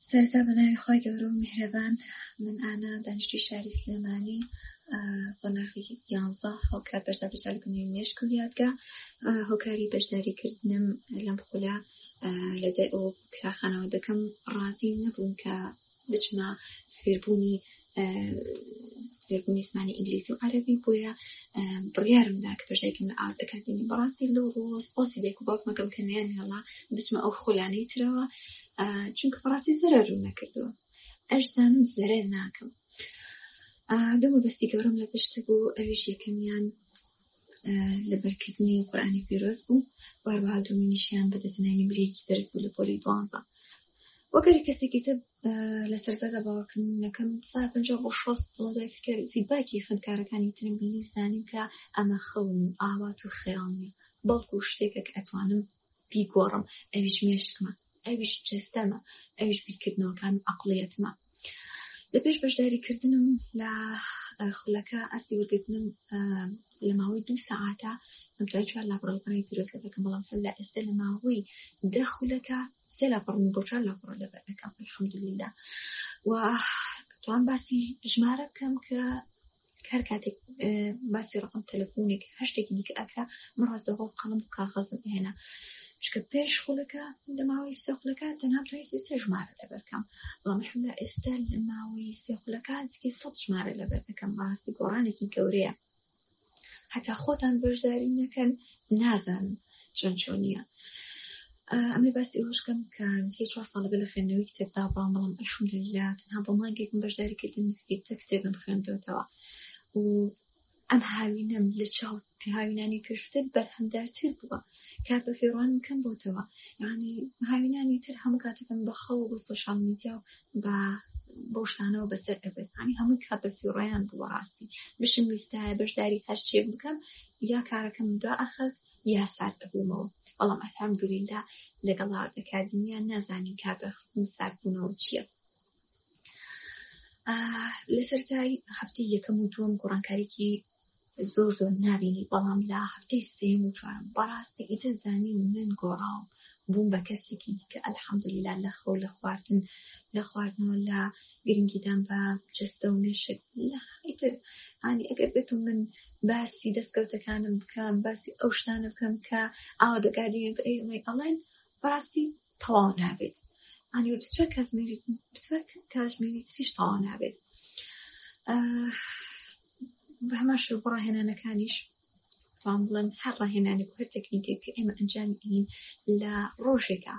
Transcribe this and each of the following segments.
سەرتا بە ناوی خۆی گەورە و میهرەبان من ئانا دانیشتوی شاری سلێمانی قۆناغی یانزە هەڵکار بەشدار بەشدار لە بنیوی مێشک و یادگا هۆکاری بەشداریکردنم لەم خولە لە جای ئەو کراخانەوە دەکەم ڕازی نەبووم کە بچمە فێربوونی میزمانی ئینگلیزی و عربی بۆیە بڕیارم دا کە پێشێکم لە ئاوت ئەکادمی بەڕاستی لەو ڕۆز پۆسی بێک و باوکمەکەم کە نیان هێڵا بچمە ئەو خۆلانەی ترەوە چونکە بەڕاستی زەرە ڕوو نەکردووە ئەشزانم زەرە ناکەم دوو مەبەستی گەورم لە پشت بوو ئەویش یەکەمیان لەبەرکردنی قورآانی پیرۆز بوو واربها دومینیشیان بە دەزنانی برێکی بەرز بوو لە پۆلی دوانزە وەگەری کەسێکی تر لە سەرزەدا باوەکردنەکەم سا پ بۆ شۆست بڵۆدەکەر فیدباکی خوێندکارەکانی ترم بینی زانیم کە ئەمە خەون و ئاوات و خەیاڵنی بەڵکو شتێکە کە ئەتوانم بیگۆڕم ئەویش مێشکمە ئەویش جستەمە ئەویش بیرکردنەوەکان و عقلیەتمە لە پێش بەشداریکردنم لە خولەکە ئەستی وەرگتنم لە ماوەی دوو سەعاتە ئەم دوای چوار لاپڕەکانی پیرۆزگە دەکەم بەڵام هەر لە ئێستا لە ماوەی دە خولەکە سێ لاپڕم بۆ چوار لاپڕە لەبەر دەکەم الحەمدللە و توان باسی ژمارە بکەم کە هەر کاتێک باسی ڕقم تەلەفۆنێک هەر شتێکی دیکە ئەکرا من ڕاستەوە قەڵم و کاغەزم هێنا چکە پێش خولەکە لە ماوەی سەخلەکە تەنها توانستی سێ ژمارە لەبەرکەم بەڵام حملا ئێستا لە ماوەی سێ خولەکە نزیکەی سەد ژمارە لەبەر دەکەم بەڕاستی گۆڕانێکی گەورەیە هەتا خۆتان بەشداری نەکەن نازان چۆن چۆن نییە ئەمە باسی ئەوشکەم کە هیچ چوار ساڵە بە لە خوێندنەوەی کتێبدا بڕام بەڵام الحمدلله تەنها بە مانگێکم بەشداریکردن نزیکەی تە کتێبم خوێندەوەتەوە و ئەم هاوینەم لە چاو هاوینانی پێشتر بەرهەمدارتر بووە کات بە فێڕوانم کەم بۆتەوە یعنی هاوینانی تر هەموو کاتەکەم بە خەوە بۆ سۆشال میدیا و بە بەو شتانەوە بەسەر ئەبێت هەنی هەمووی کات بە فیڕیان بووە ڕاستی بشم ویستایە بەشداری هەر شتێک بکەم یا کارەکەم دا ئەخەست یا سارد ئەبوومەوە بەڵام ئەفام دوریلا لەگەڵ ئاکادیمیان نازانین کار بەخستن ساردبوونەوە چییە لە سەرای هەفتەی یەکەم و دووەم گۆڕانکارێکی زۆر زۆر نابینی بەڵام لە هەفتەی سێم و چوارم بەڕاستی ئیتر زانی و من گۆڕاوم بووم بە کەسێکی دیکە ئەلحەمدلیلا لە خەو لە خواردن لە خواردنەوە لە گرنگیدان بە جستە و مێشک ئیتر ئانی ئەگەر بێت و من باسی دەستکەوتەکانم بکەم باسی ئەو شتانە بکەم کە ئاوا دەگادی ئەڵێن بەڕاستی تەواو نابێت ئەنی بچە کاتژمێری تریش تەواو نابێت بە هەمان شو بۆ ڕاهێنانەکانیش توان بڵم هەر ڕاهێنانی هەر تەکنیکێک کە ئێمە ئەنجامی ئەین لە ڕۆژێکە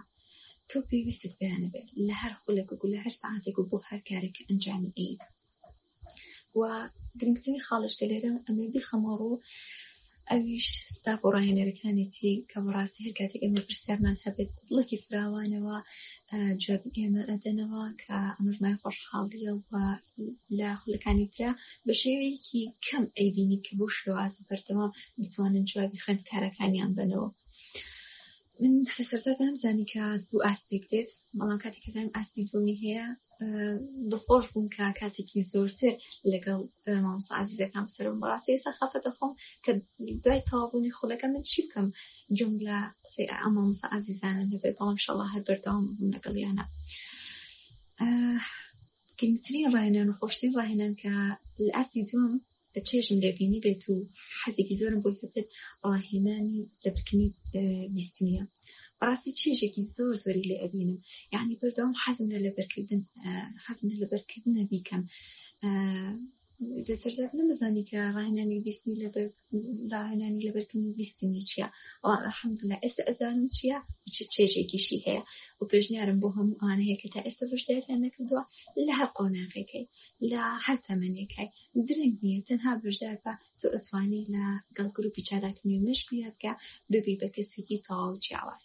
تۆ پێویستت پێیانە بێت لە هەر خولێک و لە هەر ساعتێک و بۆ هەر کارێک ئەنجامی ئەیت و گرنگترین خاڵش کە لێرە ئەمێ بیخەمەڕ و ئەویش ستاف و ڕاهێنەرەکانێتی کە بەڕاستی هەر کاتێک ئێمە پرسیارمان هەبێت دڵێکی فراوانەوە جواب ئێمە ئەدەنەوە کە ئەمەژمای خۆشحاڵیە و لە خولەکانی تررا بە شێوەیەکی کەم ئەیبینی کە بۆ شێواز بەردەوام بتوانن جوابی خوێندکارەکانیان بنەوە. من لە سەرزادام زانی کە دوو ئاسپێک دێت بەڵام کاتێک کەزانم ئاستی دومی هەیە دڵخۆش بووم کە کاتێکی زۆرتر لەگەڵ مامسازیزەکان سرم بەڕاستی ئێستا خەفە دەخۆم کە دوای تەوابوونی خولەکە من چی بکەم جم لە قسەی ئەمە مسا ئازیزانە نەبێت بەڵام شەڵا هەر بەردەوام بووم لەگەڵیانە گرنگترین ڕاهێنان و خۆشترین ڕاهێنان کە لە ئاستی دوم چێژم لێبینی بێت و حەزێکی زۆرم بۆی هەبێت ڕاهێنانی لەبرکردنی بیستنیە بەڕاستی چێژێکی زۆر زۆری لێ ئەبینم یعنی بەردەوام حەزم لە لەبەرکردن حەزم لە لەبەرکردنە بیکەم دەسەرزاد نەمەزانی کە ڕاهێنانی بیستنی لەبەر ڕاهێنانی لەبەرکردنی بیستنی چییە ئەحمدلا ئێستا ئەزانم چییە چ چێژێکیشی هەیە و پێشنیارم بۆ هەموو ئان هەیە کە تا ئێستا بەشداریان نەکردووە لە هەر قۆناغێکەکەی لە هەر تەمەنێکای درەنگ نیە تەنها بەشدار بە تۆ ئەتوانی لە گەڵ گروپی چالاک نوێ مەشق یاد کە ببی بە کەسێکی تەواو جیاواز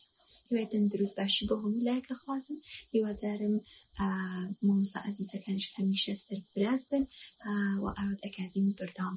هیوای تەندروست باشی بۆ هەموو لایەکە خوازم هیوادارم مامۆستا ئازیزەکانش هەمیشە سەرفراز بن و ئاوات ئەکادمی بەردەوام